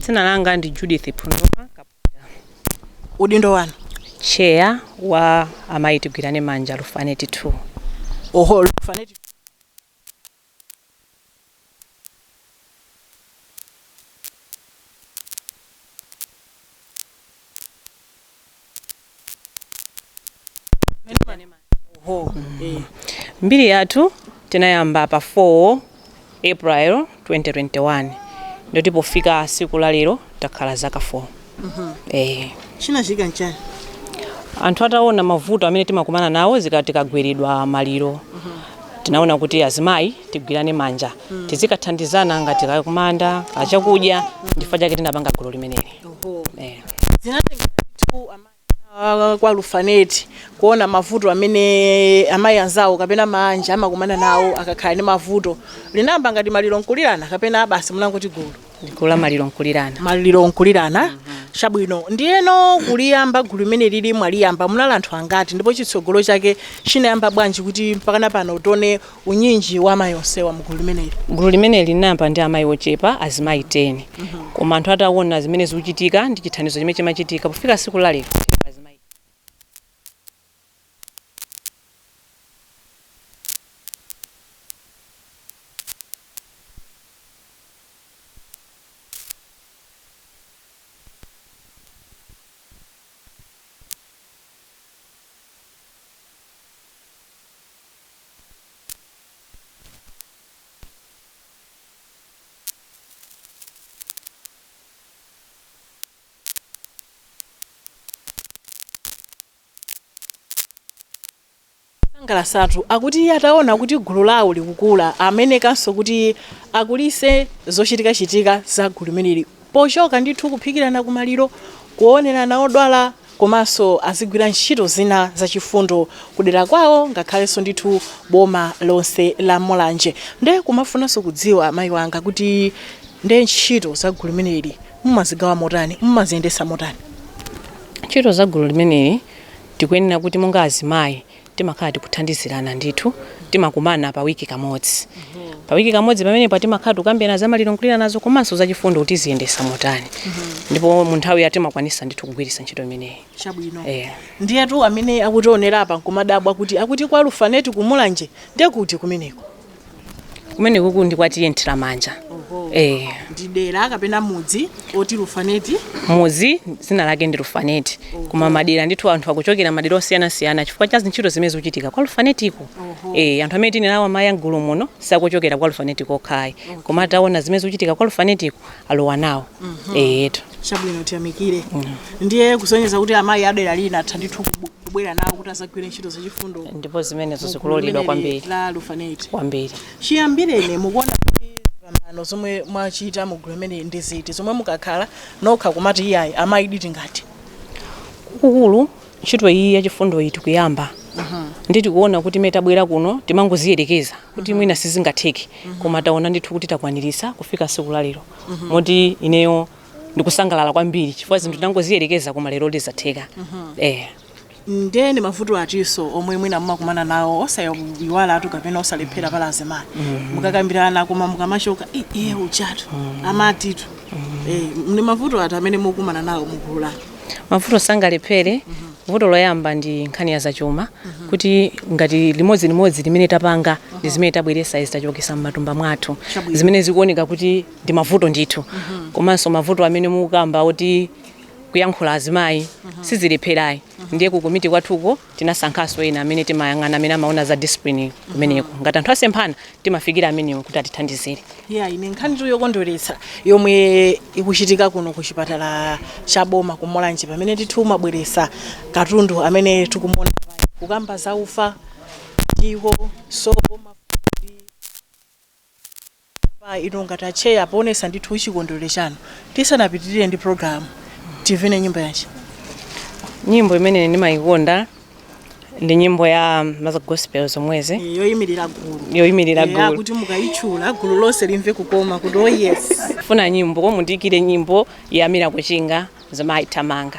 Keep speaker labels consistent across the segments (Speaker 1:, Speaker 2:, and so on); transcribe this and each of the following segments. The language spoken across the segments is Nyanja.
Speaker 1: dzina langa ndi judith phunoma kaputa udindo
Speaker 2: wanu cheya
Speaker 1: wa amayi tigwirane manja lufaneti 2 oho
Speaker 2: lufaneti Oho.
Speaker 1: Eh. mbiri yathu tinayamba pa 4 april 2021 ndoti pofika siku la lero takhala zaka 4 eh.
Speaker 2: Chinachitika nchani?
Speaker 1: anthu ataona mavuto amene timakumana nawo tikagweredwa maliro tinaona kuti azimayi tigwirane manja tizikathandizana ngati kakumanda kachakudya nchifukwa chake tinapanga gulu limeneli
Speaker 2: Eh. zinatengera amayi a kwa lufaneti kuona mavuto amene amayi anzawo kapena maanja amakumana nawo akakhala ndi mavuto linayamba ngati maliro nkulirana kapena basi munangoti gulu gulu la
Speaker 1: maliro nkulirana maliro
Speaker 2: nkulirana chabwino ndiyeno kuliyamba gulu limeneli mwaliyamba munali anthu angati ndipo chitsogolo chake chinayamba bwanji kuti mpakana pano tione unyinji wa amayi onsewa mu gulu limeneli? Gulu limeneli
Speaker 1: linayamba ndi amayi ochepa, azimayi 10. Koma anthu ataona zimene zikuchitika ndi chithandizo chimene chimachitika, pofika tsiku la lero, tilipo azimayi 80 amene akuchita izi.
Speaker 2: Sangalasatu akuti ataona kuti gulu lawo likukula amemekanso kuti akulise zochitikachitika za gulu limeneli pochoka ndithu kuphikirana kumaliro, kuonerana odwala komanso azigwira ntchito zina zachifundo kudera kwawo ngakhalenso ndithu boma lonse la Mulanje. Nde kumafunanso kudziwa mayi wanga kuti nde ntchito za gulu limeneli mumazigawa motani, mumaziyendetsa motani? Ntchito
Speaker 1: za gulu limeneli tikuyenera kuti monga azimayi timakhala tikuthandizirana ndithu timakumana pa wiki kamodzi pa wiki kamodzi pamenepo timakhala tikukambirana za maliro nkuliranazo komanso za chifundo tiziyendetsa motani ndipo mu nthawi ya timakwanisa ndithu kugwiritsa ntchito imeneyi chabwino
Speaker 2: Eh. ndiyetu amene akutionera apa nkumadabwa kuti akuti kwa lufaneti kumulanje ndi kuti kumeneko
Speaker 1: kumene kuku ndi kwa T/A Nthiramanja eh
Speaker 2: ndi dera kapena mudzi oti lufaneti mudzi
Speaker 1: dzina lake ndi lufaneti koma madera ndithu anthu akuchokera madera osiyanasiyana chifukwa cha zintchito zimene zikuchitika kwa lufanetiko eh anthu amene tine nawo amayi amgulu muno sakuchokera kwa lufaneti kokhayi koma ataona zimene zikuchitika kwa lufanetiko alowa nawo eyetu
Speaker 2: chabwino tiyamikire ndiye kusonyeza kuti amayi adera lina atha ndithu kubu- kubwera nawo kuti azagwire ntchito zachifundo ndipo zimenezo
Speaker 1: zikuloledwa gulu kwambiri limeneli la
Speaker 2: lufaneti
Speaker 1: kwambiri
Speaker 2: chiyambireni mukuona kuti zipambano zomwe mwachita mu gulu limeneli ndi ziti zomwe mukakhala nokha kumati iyayi amayi ndithu ngati gulu
Speaker 1: ntchito iyi ya chifundoyi tikuyamba ndithu tikuona kuti mmene tabwera kuno timangoziyerekeza kuti mwina sizingatheke koma taona ndithu kuti takwaniritsa kufika tsiku la lero moti ineyo ndikusangalala kwambiri chifukwa zinthu tinangoziyerekeza koma lero zatheka
Speaker 2: eh nde ndi mavuto atinso omwe mwina mumakumana nawo osayiwala atu kapena osalephera paja azimayi mukakambirana koma mukamachoka "Eh, iye ujatu amatitu Eh, ndi mavuto ati amene mukukumana nawo mugulu lanu mavuto
Speaker 1: sangalephere vuto loyamba ndi nkhani ya zachuma kuti ngati limodzi limodzi limene tapanga ndi zimene tabweresa izi tachotsa m'matumba mwathu Chabwino. zimene zikuoneka kuti ndi mavuto ndithu komanso mavuto amene mukukamba oti kuyankhula azimayi sizilepherayi ndiye kukomiti kwathuko Tinasankhanso ena amene timayang'ana amene amaona za discipline kumeneko. Ngati anthu asemphana, timafikira amenewo kuti atithandizire. Yeah, iyi nkhanitu
Speaker 2: yokondweretsa yomwe ikuchitika kuno ku chipatala cha boma ku Mulanje pamene ndithu mwabweretsa katundu amene tikumuona pano kukamba za ufa, ndiwo, sopo, mafuta ndi. pa inu ngati atcheya poonesa ndithu chikondwelero chanu tisanapitilire ndi program timve nyimbo yanji nyimbo
Speaker 1: imene ndimayikonda ndi nyimbo ya maza gospel zomwezi Eh, yoyimirira
Speaker 2: gulu yoyimirira Eh, gulu akuti mukayitchula gulu lonse limve kukoma kuti oh yes funa nyimbo
Speaker 1: mundiyikire nyimbo ya Miracle Chinga ya amayi thamanga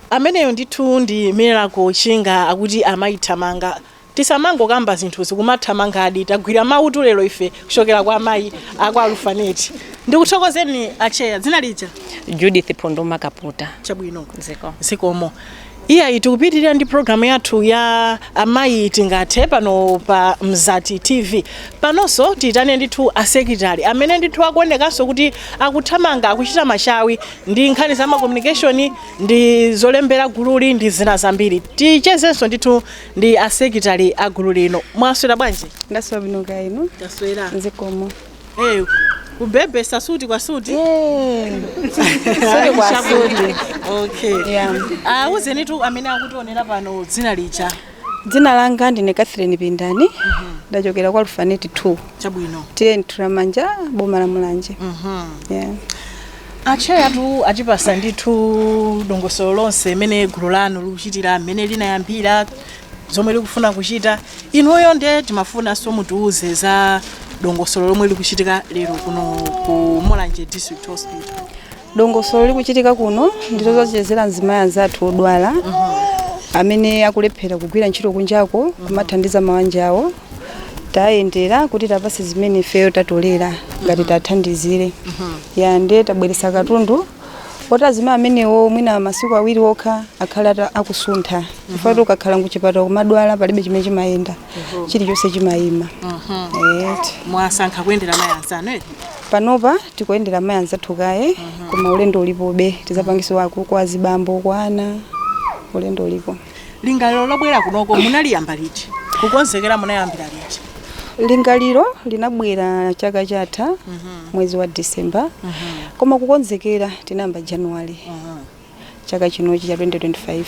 Speaker 2: Ameneyo ndithu ndi miracle chinga akuti amayi thamanga tisamangokamba zinthuzi kumathamangadi tagwira mawutu lero ife kuchokera kwa amayi akwa Lufaneti ndikuthokozeni Atcheya dzina lija? Judith Pondoma
Speaker 1: Kaputa. Chabwino
Speaker 2: ziko zikomo iyayi tikupitirira ndi program yathu ya amayi tingathe pano pa Mzati TV panonso tiyitane ndithu asekilitali amene ndithu akuonekanso kuti akuthamanga akuchita machawi ndi nkhani za ma communication ndi zolembera gululi ndi zina zambiri tichezenso ndithu ndi asekilitali a gulu lino mwaswera bwanji ndaswera bwino kaya inu
Speaker 3: taswera zikomo
Speaker 2: hey, kubebetsa suti kwa suti
Speaker 3: okay Yeah. awuzenitu amene
Speaker 2: akutionera pano dzina lija Dzina
Speaker 3: langa ndine Catherine Pindani ndachokera kwa Lufaneti 2 chabwino
Speaker 2: T/A
Speaker 3: Nthiramanja boma la Mulanje yeah.
Speaker 2: atcheyatu atipatsa ndithu dongosolo lonse mmene gulu lanu likuchitira mmene linayambira zomwe likufuna kuchita inuyo nde timafunanso mutiuze za dongosolo lomwe likuchitika lero kuno ku mulanje district hospital
Speaker 3: Dongosolo likuchitika kuno ndi lodzachezera azimayi anzathu odwala amene akulephera kugwira ntchito kunjako kumathandiza mabanja awo tayendera kuti tiwapatse zimene ifeyo tatolera ngati tiwathandizire ya nde tabweretsa katundu oti azimayi amenewo mwina masiku awiri okha akhale ata- akusuntha chifukwatu ukakhala kuchipatala kumadwala palibe chimene chimayenda chilichonse chimayima
Speaker 2: Eti. mwasankha kuyendera amayi anzanu eti
Speaker 3: panopa tikuyendera amayi anzathu kaye koma ulendo ulipobe tizapanganso wa kwa azibambo kwa ana ulendo ulipo lingaliro
Speaker 2: lobwera kunoko munaliyamba liti kukonzekera munayambira liti
Speaker 3: lingaliro linabwera chaka chatha mwezi wa december koma kukonzekera tinayamba january chaka chinochi cha 2025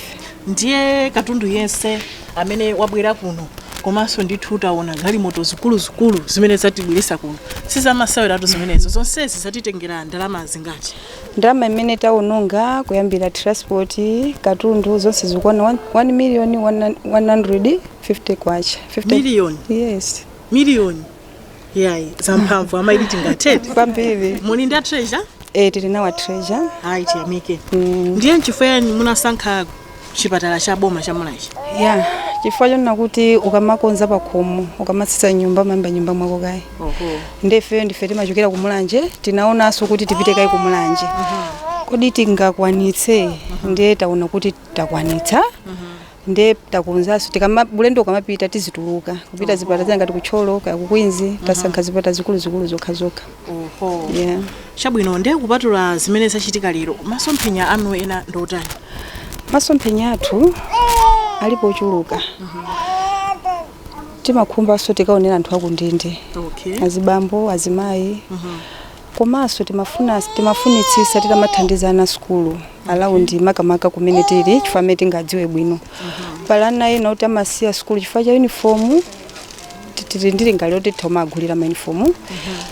Speaker 2: ndiye katundu yense amene wabwera kuno komanso ndithu taona galimoto zikuluzikulu zimene zatibweretsa kuno sizamaseweratu zimenezo zonsezi zatitengera ndalama zingati ndalama
Speaker 3: imene taononga kuyambira transport katundu zonse zikukwana 1 million 150 kwacha 50 Million? yes miliyoni
Speaker 2: yayi zamphamvu amayi tingathete kwambiri muli
Speaker 3: ndi
Speaker 2: atreasure e, tili
Speaker 3: nawo atreasure ayi tiyamike
Speaker 2: ndiye nchifukwa yani munasankha chipatala cha boma cha mulanje ya chifukwa
Speaker 3: chonena kuti ukamakonza pakhomo ukamasesa nyumba umayamba nyumba mwako kaye nde ifeyo ndife timachokera ku mulanje tinaonanso kuti tipite kaye ku mulanje kodi tingakwanitse ndiye taona kuti takwanitsa nde takonzanso tikama ulendo ukamapita tizituluka kupita zipata zina ngati ku Thyolo kaya ku Queens tasankha zipata zikuluzikulu zokha zokha oho yeah. chabwino nde
Speaker 2: kupatula zimene zachitika lero masomphenya anu ena ndi otani
Speaker 3: masomphenya athu alipo ochuluka timakhumbanso tikaonera anthu akundende okay azibambo azimayi komanso timafuna timafunitsisa titamathandiza ana asukulu around makamaka kumene tili chifukwa ndi amene tingadziwe bwino pali ana ena oti amasiya sukulu chifukwa cha unifomu tili ndi lingaliro loti titamawagulira maunifomu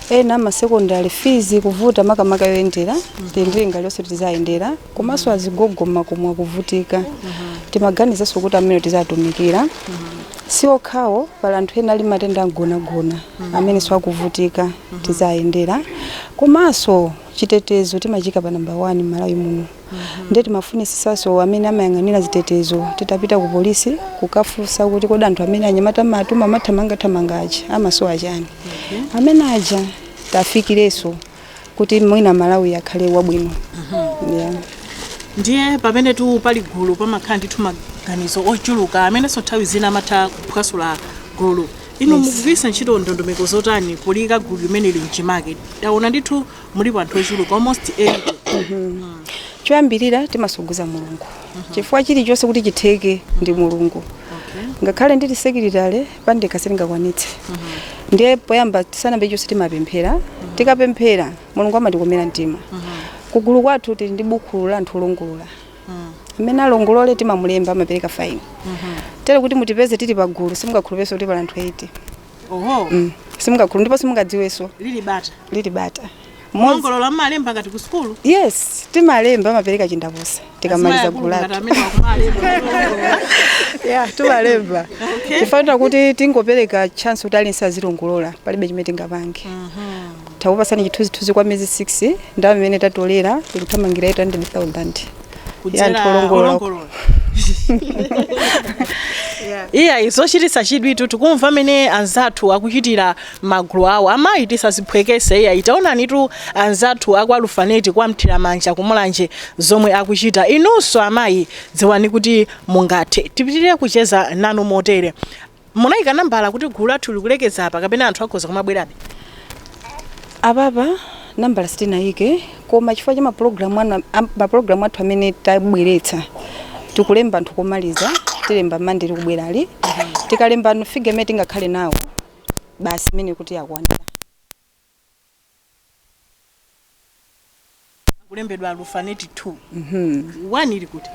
Speaker 3: ena amasekondari fizi kuvuta makamaka yoyendera tili ndi lingalironso tizawayendera komanso agogo mmakomo akuvutika timaganizanso kuti amene tizatumikira si okhawo pali anthu ena ali matenda amgonagona amenenso akuvutika tizayendera komanso chitetezo timachiika pa namba 1 Malawi muno nde timafunisisaso amene amayang'anira zitetezo titapita ku polisi kukafunsa kuti kodi anthu amene anyamata amatuma amathamanga thamanga aja amasowa chani amene aja tafikireso kuti mwina Malawi akhale wabwino yeah. ndiye
Speaker 2: pamenetu pali gulu pamakhala ndithu maganizo ochuluka amenenso nthawi zina amatha kuphwasula gulu inu Yes. mukugwiritsa ntchito ndondomeko zotani poliyika gulu limeneli mchimake taona ndithu mulipo anthu ochuluka almost 80 choyambirira
Speaker 3: timathokoza mulungu chifukwa chilichonse kuti chitheke ndi mulungu ngakhale ndili sekilitale pandekha sindingakwanitse ndiye poyamba tisanambe chonse timapemphera tikapemphera mulungu amatikomera mtima kugulu kwathu tili ndi buku la anthu olongolola amene alongolole timamulemba amapereka fine tero kuti mutipeze tili pagulu simungakhulupirenso kuti pali anthu 80 oho Mm. simungakhulu ndipo simungadziwenso lili bata lili bata Mmodzi- wolongolola
Speaker 2: mmalemba ngati ku sukulu yes
Speaker 3: timalemba amapereka chindapusa tikamaliza gulu lathu yeah, timalemba Okay. tifuna kuti tingopereka chance kuti aliyense azilongolola palibe chimene tingapange Tikupatseni chithunzithunzi kwa miyezi 6 ndalama imene tatolera ikuthamangira 800,000 ya
Speaker 2: anthu olongolola iyayi zochititsa chidwitu tikumva mmene anzathu akuchitira magulu awo amayi tisaziphwekese iyayi taonanitu anzathu akwa Alufaneti kwa Mthiramanja ku Mulanje zomwe akuchita inunso amayi dziwani kuti mungathe tipitirire kucheza nanu motere Munaika nambala kuti gulu lathu likulekezera apa kapena anthu akhoza
Speaker 3: kumabwerabe? Apapa nambala sitinaike koma chifukwa cha mapulogalamu anu am- mapulogalamu athu amene tabweretsa tikulemba anthu komaliza tilemba mande likubwerali tikalembano figa imene tingakhale nawo basi imene kuti yakwanira
Speaker 2: kulembedwa alufaneti 2 1 ili kuti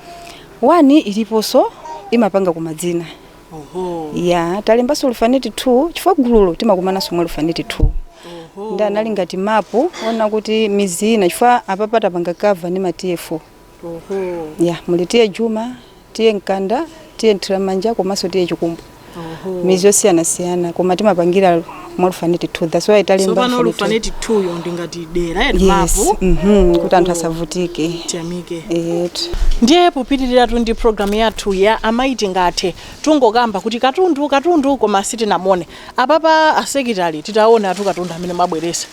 Speaker 2: 1
Speaker 3: iliponso imapanga koma dzina oho ya talembanso Alufaneti 2 chifukwa gululo timakumananso mwa Alufaneti 2 ndiye anali ngati mapu ona kuti midzi ina chifukwa apapa tapanga kava ndi ma T/A 4 ya muli T/A Juma T/A Nkanda T/A Mthiramanja komanso T/A Chikumbu midzi yosiyanasiyana koma timapangira mwa Alufaneti 2 that's why talemba tsopano Alufaneti 2. Alufaneti 2
Speaker 2: yo ndi ngati dera eni yes mapu mhm, kuti
Speaker 3: anthu asavutike tiyamike
Speaker 2: eetu ndiye popitiriratu ndi programu yathu ya amayi tingathe tikungokamba kuti katundu katundu koma sitinamuone apapa asekitali titaonatu katundu amene mwabweresa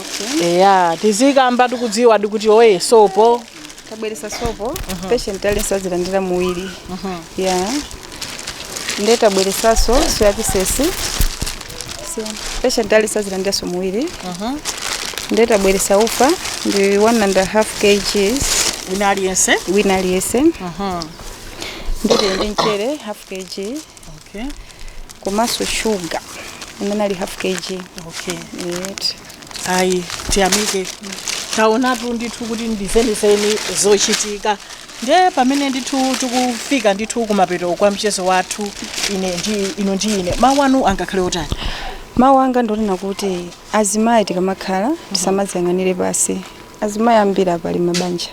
Speaker 2: okay. eya tizikamba tikudziwa ndikuti oye sopo tabweresa sopo
Speaker 3: uh -huh. patient aliyense azilandira muwiri uh -huh. ya yeah. nde tabweresaso soya pieces patient aliyense azilandiranso muwiri uh -huh. nde tabweresa ufa ndi 1 and a half kgs wina aliyense wina aliyense uh -huh. nde tili ndi mchere half kg okay komanso shuga amene ali half kg okay
Speaker 2: Right. ayi tiyamike taonatu ndithu kuti ndi zenizeni zochitika nde pamene ndithu tikufika ndithu kumapeto kwa mchezo wathu uno ndi inu ndi ine mawu anu angakhale otani mawu
Speaker 3: anga ndonena kuti azimayi tikamakhala tisamaziyang'anire pansi azimayi ambiri ali pa mabanja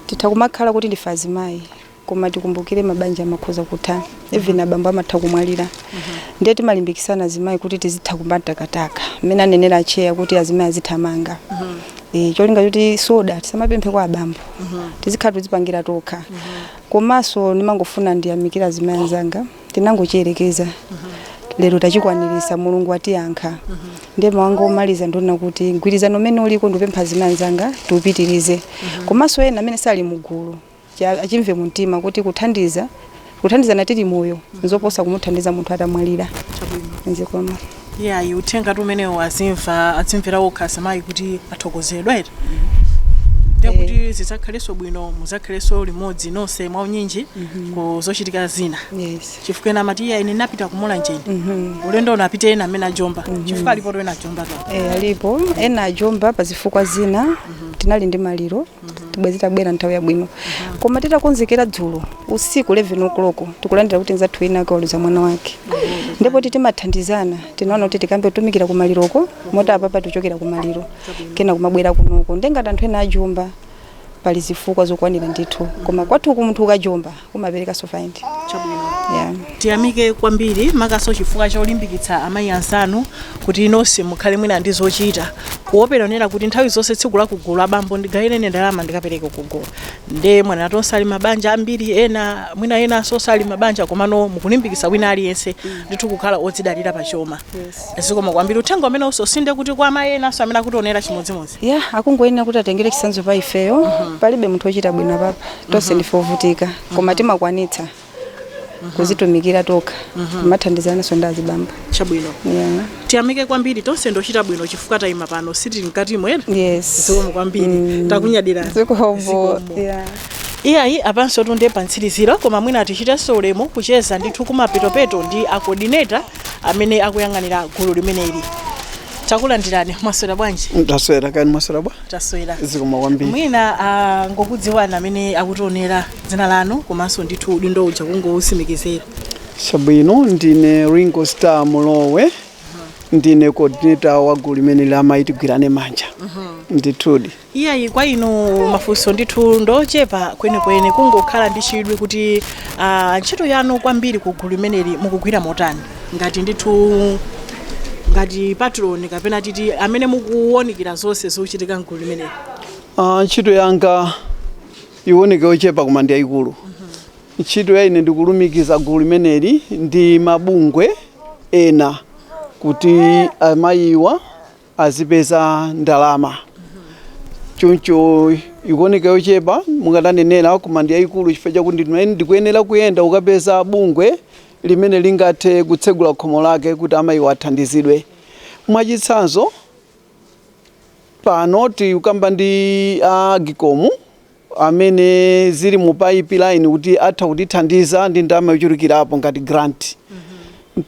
Speaker 3: titha kumakhala kuti ndife azimayi koma tikumbukire mabanja amakhoza kutha even abambo amatha kumwalira ndiye timalimbikisana azimayi kuti tizitha kumatakataka mmene anenera acheya kuti azimayi azithamanga Eh, cholinga choti soda tisamapemphe kwa abambo tizikhala tizipangira tokha komanso ndimangofuna ndiyamikire azimayi anzanga tinangochiyerekeza lero tachikwanirisa mulungu atiyankha ndiye mawu anga omaliza ndonena kuti mgwirizano umene uliko ndipempha azimayi anzanga tiupitirize komanso ena amene sali mugulu achimve mumtima kuti kuthandiza kuthandizana tili moyo nzoposa kumuthandiza munthu atamwalira zikomo iyayi
Speaker 2: uthengatu umenewo azimva adzimvera okha azimayi kuti athokozedwa eti ndiye kuti zidzakhalenso bwino mudzakhalenso limodzi nonse mwaunyinji ku zochitika zina yes chifukwa ena amati iya ine sindinapite ku Mulanje ndi ulendo unapite ena amene ajomba chifukwa alipotu ena ajombatu eh, alipo
Speaker 3: ena ajomba pa zifukwa zina tinali ndi maliro bwezi tabwera nthawi yabwino koma titakonzekera dzulo usiku 11 o'clock tikulandira kuti nzathu wina wake waluza mwana wake ndipo poti timathandizana tinaona kuti tikambe kutumikira kumaliroko moti apapa tichokera kumaliro kena kumabwera kunoko nde ngati anthu ena ajomba pali zifukwa zokwanira ndithu koma kwathuku munthu ukajomba Umaperekanso fine. Chabwino.
Speaker 2: Yeah. Tiyamike kwambiri makanso chifukwa cholimbikitsa amayi anzanu kuti inu nonse mukhale mwina ndi zochita kuopa kunena kuti nthawi zonse tsiku la kugulu abambo ndigawireni ndalama ndikapereke kugulu nde mwanena tonse ali m'mabanja ambiri ena mwina enanso osali m'mabanja komano mukulimbikitsa wina aliyense ndithu kukhala odzidalira pa chuma zikomo kwambiri uthenga umenewusotu ndekuti kwa amayi enanso amene akutionera chimodzimodzi Yeah, akungoyenera kuti
Speaker 3: atengere chitsanzo pa ifeyo. Palibe munthu ochita bwino apapa. tonse ndife ovutika koma timakwanitsa kuzitumikira tokha kumathandizananso ndi azibambo chabwino yeah.
Speaker 2: tiyamike kwambiri tonse ndi ochita bwino chifukwa tayima pano sitili mkati mwere yes zikomo kwambiri takunyadirani
Speaker 3: zikomo
Speaker 2: yeah. iyayi apanso tu ndi pamtsiriziro koma mwina tichitenso ulemu kucheza ndithu kumapetopeto ndi akodineta amene akuyang'anira gulu limeneli takulandirani mwaswera bwanji ndaswera kani mwaswera
Speaker 4: bwa taswera
Speaker 2: zikomo kwambiri
Speaker 4: mwina ah,
Speaker 2: angokudziwani amene akutionera dzina lanu komanso ndithu udindo uja kungousimikizira chabwino
Speaker 4: ndine ringo star mulowe ndine coordinator wa gulu limeneli amayi tigwirane manja ndithudi iyayi
Speaker 2: kwa inu mafunso ndithu ndochepa kwenikweni kungokhala ndi chidwi kuti ah, ntchito yanu kwambiri ku gulu limeneli mukugwira motani ngati ndithu ngati patron kapena titi amene mukuwonekera zonse zochitika
Speaker 4: mgulu limeneli
Speaker 2: Ah, ntchito yanga
Speaker 4: iwoneke yochepa koma ndi yayikulu ntchito ya ine ndikulumikiza gulu limeneli ndi mabungwe ena kuti amayiwa azipeza ndalama choncho ikuoneka yochepa monga mwanenera koma ndi yayikulu chifukwa chakuti ndikuyenera kuyenda kukapeza bungwe limene lingathe kutsegula khomo lake kuti amayiwa athandizidwe mwachitsanzo pano tikukamba ndi a agikomu amene zili mu pipeline kuti atha kutithandiza ndi ndalama yochulukirapo ngati grant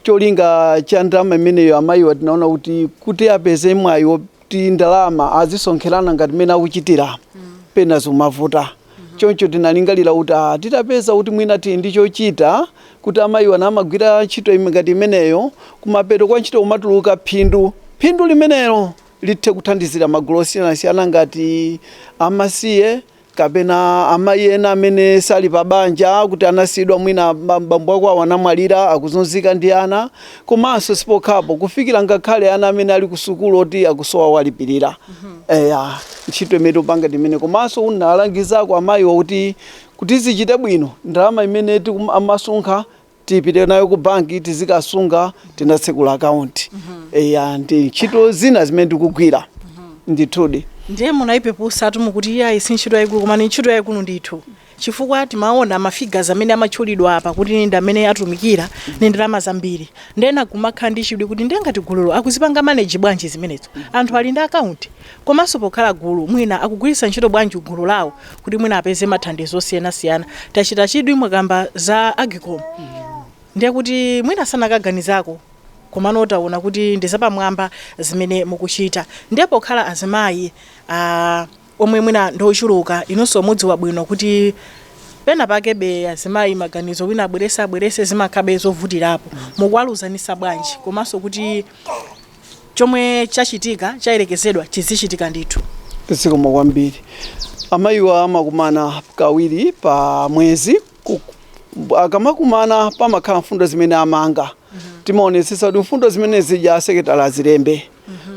Speaker 4: cholinga cha ndalama imeneyo amayiwa tinaona kuti kuti apeze mwayi woti ndalama azisonkherana ngati mmene akuchitira pena zimavuta choncho tinalingalira kuti ah, titapeza kuti mwina tili ndi chochita kuti amayiwa namagwira ntchito ime- ngati imeneyo kumapeto kwa ntchito kumatuluka phindu phindu limenelo lithe kuthandizira magulu osiyanasiyana ngati amasiye kapena amayi ena amene sali pa banja kuti anasiyidwa mwina ba- bambo akwawo anamwalira akuzunzika ndi ana komanso sipokhapo kufikira ngakhale ana amene ali kusukulu oti akusowa owalipirira eya ntchito imene tikupanga timene komanso kuwalangizako amayiwa kuti kuti zichite bwino ndalama imene tikum- amasonkha tipite nayo ku banki tizikasunga tinatsekula akaunti eya ndi ntchito zina zimene ndikugwira ndithudi ndiye
Speaker 2: munayipepusa tu mukuti iyayi si ntchito yayikulu koma ni ntchito yayikulu ndithu chifukwa timaona mafigas amene amatchulidwa apa kuti ndi amene atumikira ni ndalama zambiri ndiye nkumakhala ndi chidwi kuti ndiye ngati gululo akuzipanga maneji bwanji zimenezo anthu ali ndi akaunti komanso pokhala gulu mwina akugwiritsa ntchito bwanji gulu lawo kuti mwina apeze mathandizo osiyanasiyana tachita chidwi mwakamba za agicom ndiye kuti mwina sanakaganizako komano taona kuti ndi zapamwamba zimene mukuchita ndiye pokhala azimayi ah, omwe mwina ndi ochuluka inonso mudziwa bwino kuti pena pake be azimayi maganizo wina abwereze abwereze zimakhabe zovutirapo mukuwalunzanitsa bwanji komanso kuti chomwe chachitika chayerekezedwa chizichitika ndithu. zikomo
Speaker 4: kwambiri amayiwa amakumana kawiri pa mwezi Ku- akamakumana pamakhala mfundo zimene amanga timaonetsetsa kuti mfundo zimene zija asekeletale azilembe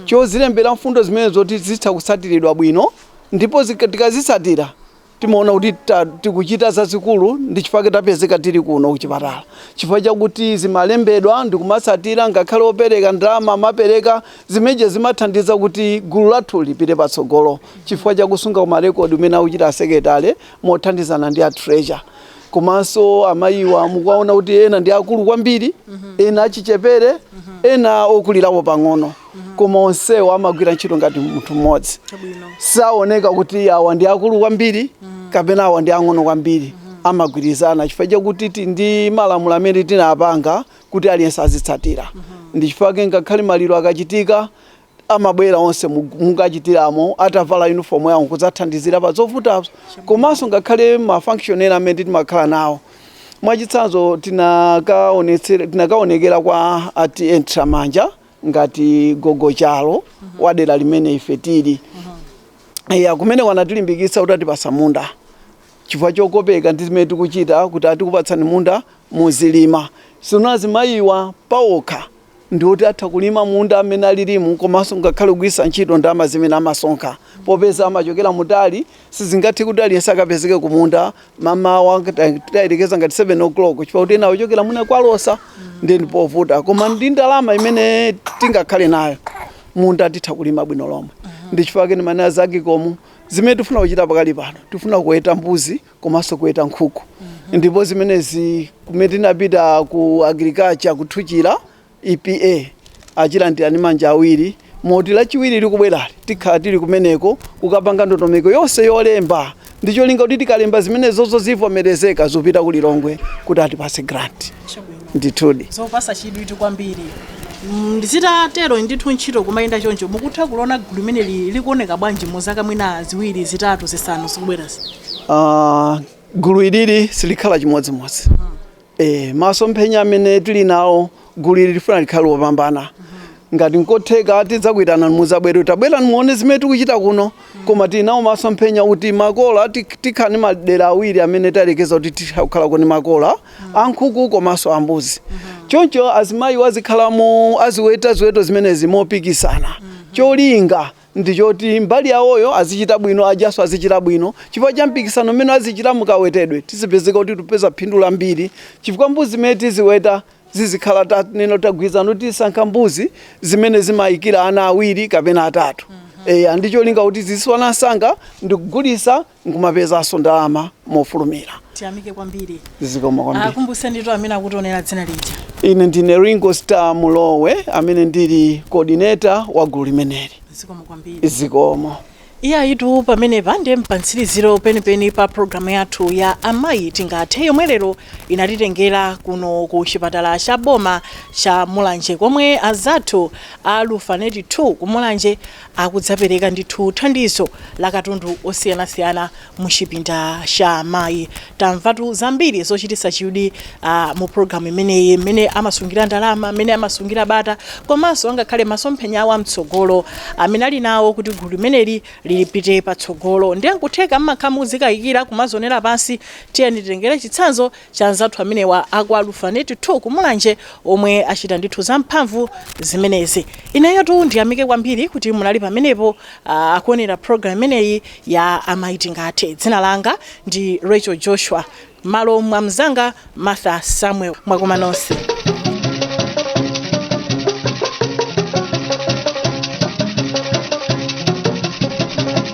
Speaker 4: pozilembera mfundo zimene zoti zitha kutsatiridwa bwino ndipo zika- tikazitsatira timaona kuti ta- tikuchita zazikulu ndi chifukwa chake tapezeka tili kuno kuchipatala chifukwa chakuti zimalembedwa ndikumatsatira ngakhale opereka ndalama amapereka zimenezija zimathandiza kuti gulu lathu lipite patsogolo chifukwa chakusunga kwa marekodi umene akuchita asekeletale mothandizana ndi a treasurer komanso amayiwa mukuwaona kuti ena ndi akulu kwambiri ena achichepere ena okulirapo pang'ono koma onsewo amagwira ntchito ngati munthu mmodzi Chabwino. saoneka kuti awa ndi akulu kwambiri kapena awa ndi ang'ono kwambiri amagwirizana chifukwa chakuti ti- ndi malamulo amene tinapanga kuti aliyense azitsatira ndi chifukwa chake ngakhale maliro akachitika amabwera onse mu- mungachitiremo atavala uniform yawo kudzathandizira pa zovutazo komanso ngakhale ma function ena amene timakhala nawo mwachitsanzo tinakaonetsera- tinakaonekera kwa a TA Nthiramanja ngati gogo chalo wa dera limene ife tili kumeneko anatilimbikitsa kuti atipatsa munda chifukwa chokopeka ndi zimene tikuchita kuti ah tikupatsani munda muzilima sino azimayiwa paokha ndi oti atha kulima munda amene alilimu komanso ngakhale kugwiritsa ntchito ndalama zimene amasonkha popeza amachokera mutali Sizingathe kuti aliyense akapezeke kumunda m'mamawa tayerekeza ngati 7 o'clock chifukwa kuti ena ochokera mwina kwa Losa ndiye ndi povuta koma ndi ndalama imene tingakhale nayo munda titha kulima bwino lomwe ndi chifukwa chake ndimanena za agicom zimene tifuna kuchita pakali pano tifuna kuweta mbuzi komanso kuweta nkhuku ndipo zimenezi pamene tinapita ku agriculture ku Thuchila EPA azilandira ndi manja awiri moti lachiwiri likubwerali tikhala tili kumeneko kukapanga ndondomeko yonse yolemba ndi cholinga kuti tikalemba zimenezozo zivomerezeke zipite ku Lilongwe kuti atipatse grant ndithudi zopatsa
Speaker 2: chidwi kwambiri ndi zitatero ndithu ntchito kumayenda choncho mukutha kuliona gulu limeneli likuoneka bwanji mu zaka mwina ziwiri zitatu zisanu zikubwerazi Ah,
Speaker 4: gulu ilili silikhala chimodzimodzi Eh, masomphenya amene tili nawo gulu ili lifuna likhale lopambana ngati nkotheka tidzakuitanani muzabwere tabwerani muone zimene tikuchita kuno koma tili nawo masomphenya kuti makola ti- tikhale ndi madera awiri amene tayerekeza kuti titha kukhala ndi makola ankhuku komanso ambuzi choncho azimayiwo azikhalamo aziweta ziweto zimenezi mopikisana cholinga ndi choti mbali yawoyo azichita bwino, ajanso azichita bwino. Chifukwa cha mpikisano umene azichita mu kawetedwe, tizipezeka kuti tipeza phindu lambiri chifukwa mbuzi zimene tiziweta zizikhala tanena kuti tagwirizana kuti tizisankha mbuzi zimene zimayikira ana awiri kapena atatu. Eya, ndi cholinga kuti ziziswana msanga ndi kugulitsa nkumapezanso ndalama mofulumira. Tiyamike
Speaker 2: kwambiri. Zikomo
Speaker 4: kwambiri. Akumbusenitu amene
Speaker 2: akutionera dzina lija. Ine ndine Ringo
Speaker 4: Star Mulowe amene ndili coordinator wa gulu limeneli. Zikomo kwambiri.
Speaker 2: Zikomo.
Speaker 4: Eyatu
Speaker 2: pamenepa ndiye mpamtsiriziro penipeni pa programu yathu ya amayi tingathe yomwe lero inatitengera kuno ku chipatala cha boma cha mulanje komwe anzathu a Lufanet 2 ku mulanje akudzapereka ndithu thandizo la katundu osiyanasiyana mu chipinda cha amayi. Tamvatu zambiri zochititsa chidwi mu program imeneyi mmene amasungira ndalama, mmene amasungira bata komanso angakhale masomphenya awo amtsogolo amene ali nawo kuti gulu limeneli lipite patsogolo. Ndiye nkutheka mmakhala mukudzikayikira kumadzionera pansi tiyeni titengere chitsanzo cha anzathu amenewa a kwa Lufanet 2 ku Mulanje omwe achita ndithu zamphamvu zimenezi. Ineyotu ndiyamike kwambiri kuti munali pamenepo ah, kuonera program imeneyi ya Amayi Tingathe. Dzina langa ndi Rachel Joshua, malo mwa mnzanga Martha Samuel. Mwakoma nonse.